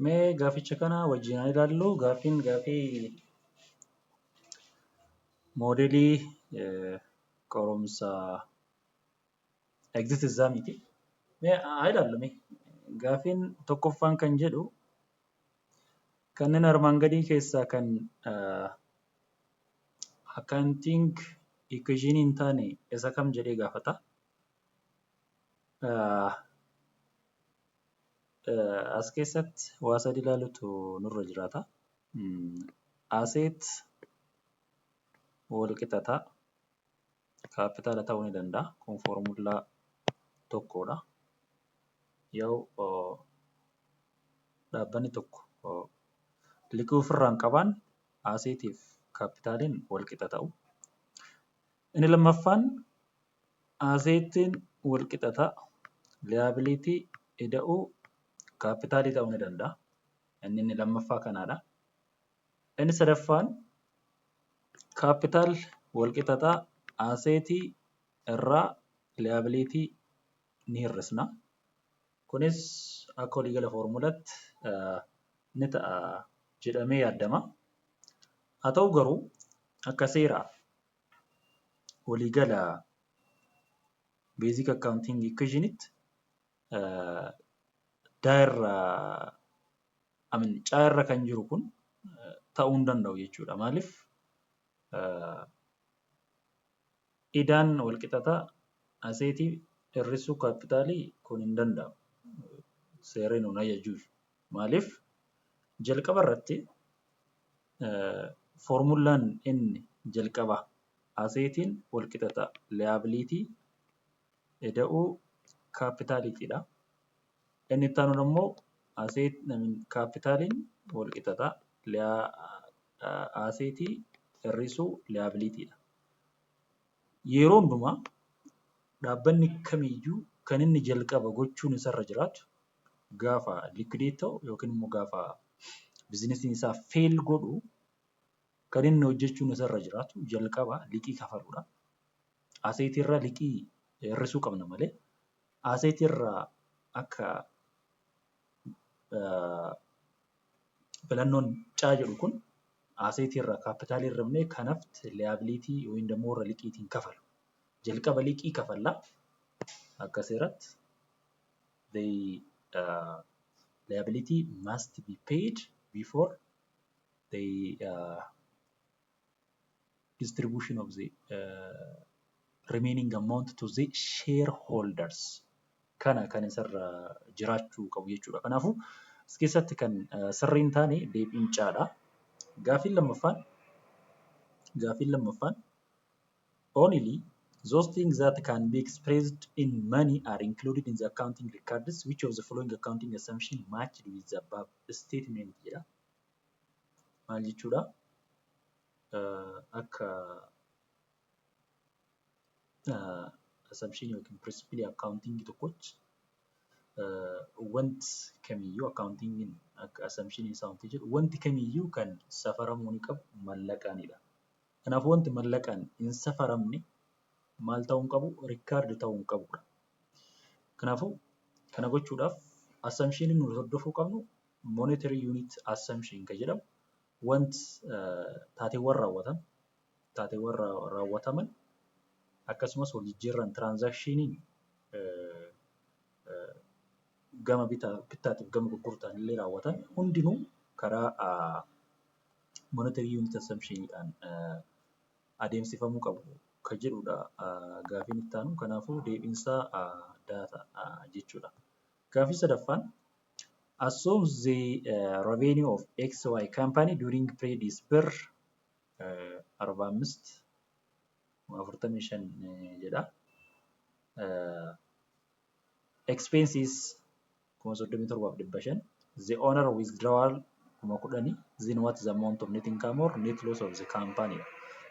Mee gaaficha kana wajjin haa ilaallu. Gaaffiin gaaffii moodeelii qorumsa exit exam ti. Mee haa ilaallu mee. Gaaffiin tokkoffaan kan jedhu kanneen armaan gadii keessaa kan accounting equation hin taane isa kam jedhee gaafata. As keessatti waa sadi ilaalutu nurra jiraata. Aseet wal qixa ta'a. Kaappitaala ta'uu ni danda'a. Kun foormullaa tokkodha. Yoo dhaabbanni tokko liqii ofirraa hin qabaan aseetiif kaappitaaliin wal qixa ta'u. Inni lammaffaan Aseettiin walqixa ta'a. Liyaabiliitii ida'uu kaappitaalii ta'uu ni danda'a. Inni inni lammaffaa kanaadha. Inni sadaffaan kaappitaal walqixa ta'a. Aseetii irraa liyaabiliitii ni hir'isna. Kunis akka waliigala foormulaatti ni ta'a jedhamee yaadama. Haa ta'u garuu akka seeraa waliigala beezik akkaawuntiingi ikweeshinitti daa irra amin caa irra kan jiru kun ta'uu hin danda'u jechuudha. Maaliif idaan wal qixataa aseetii hir'isuu kaappitaalii kun hin danda'amu. Seerri nuun ajajuu. Maaliif jalqaba irratti foormullaan N jalqabaa aseetiin walqixa ta'a. Liyaabiliitii eda'uu kaapitaaliitiidha. N itti aanuun immoo kaapitaaliin walqixa ta'a. Aseetii hir'isuu liyaabiliitiidha. Yeroo hundumaa dhaabbanni kamiyyuu kan inni jalqaba gochuun isarra jiraatu gaafa liquidate ta'u yookiin immoo gaafa bizinesiin isaa fail godhu kan inni hojjechuun isarra jiraatu jalqaba liqii kafaluudha. Aseetii irra liqii hir'isuu qabna malee aseetii irra akka filannoon caa jedhu kun aseetii irra kaappitaalii irra himnee kanaft liyaabiliitii yookiin immoo warra liqiitiin kafalu. Jalqaba liqii kafallaa akka seeratti the uh, liability must be paid before the uh, distribution of the uh, remaining amount to the shareholders kana kan isarra jiraachuu qabu jechuudha. Kanaafuu as keessatti kan uh, sirrii hin taane deebiin caadha. Gaafiin lammaffaan gaafiin lammaffaan Only those things that can be expressed in money are included in the accounting records. Which of the following accounting assumption matched with the above statement jedha. Maal jechuudha? Akka assumption yookiin principle accounting tokkotti wanti kamiyyuu accountingin akka assumption isaa wanti jedhu wanti kamiyyuu kan safaramuu ni qabu mallaqaanidha. Kanaafuu wanti mallaqaan hin safaramne maal ta'uu hin qabu? Rikkaardi ta'uu hin qabu. Kanaafuu kana gochuudhaaf assumption nuti hordofuu qabnu monetary unit assumption kan jedhamu want taateewwan raawwatan taateewwan raawwataman akkasumas wal jijjiirraan tiraanzaakshiniin gama bittaatiif gama gurgurtaan illee raawwatan hundinuu karaa monetary unit assumption dhaan adeemsifamuu qabu kan jedhudha gaafiin itti aanu. Kanaafuu deebiin isaa daata jechuudha. Gaafii sadaffaan assume the revenue of XY company during period is per 45 45 jedha. Expenses 37,500 The owner withdrawal 10,000 Then what is the amount of net income or net loss of the company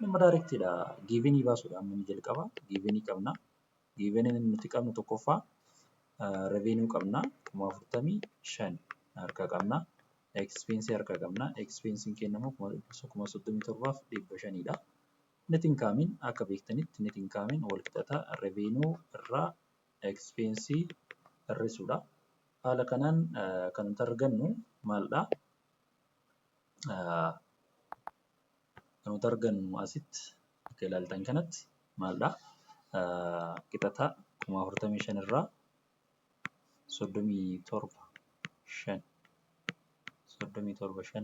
Nama direct dha. Given baasuudha amma inni jalqaba. Given qabna. Given nuti qabnu tokkoffaa uh, revenue qabna. Kuma afurtamii shan harka qabna. Expense harka qabna. Expense keenya immoo kuma soddomii torbaaf dhibba shanidha. Net inkaamiin akka beektanitti net inkaamiin walqixata revenue irraa expense hir'isuudha. Haala kanaan kan nuti argannu maaldha? Kan nuti argannu asitti akka ilaaltan kanatti maaldha? Qixata kuma afurtamii shan irraa soddomii torba shan soddomii torba shan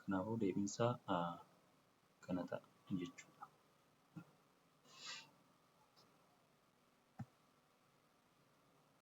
Kanaafuu deebiinsaa kana ta'a jechuudha.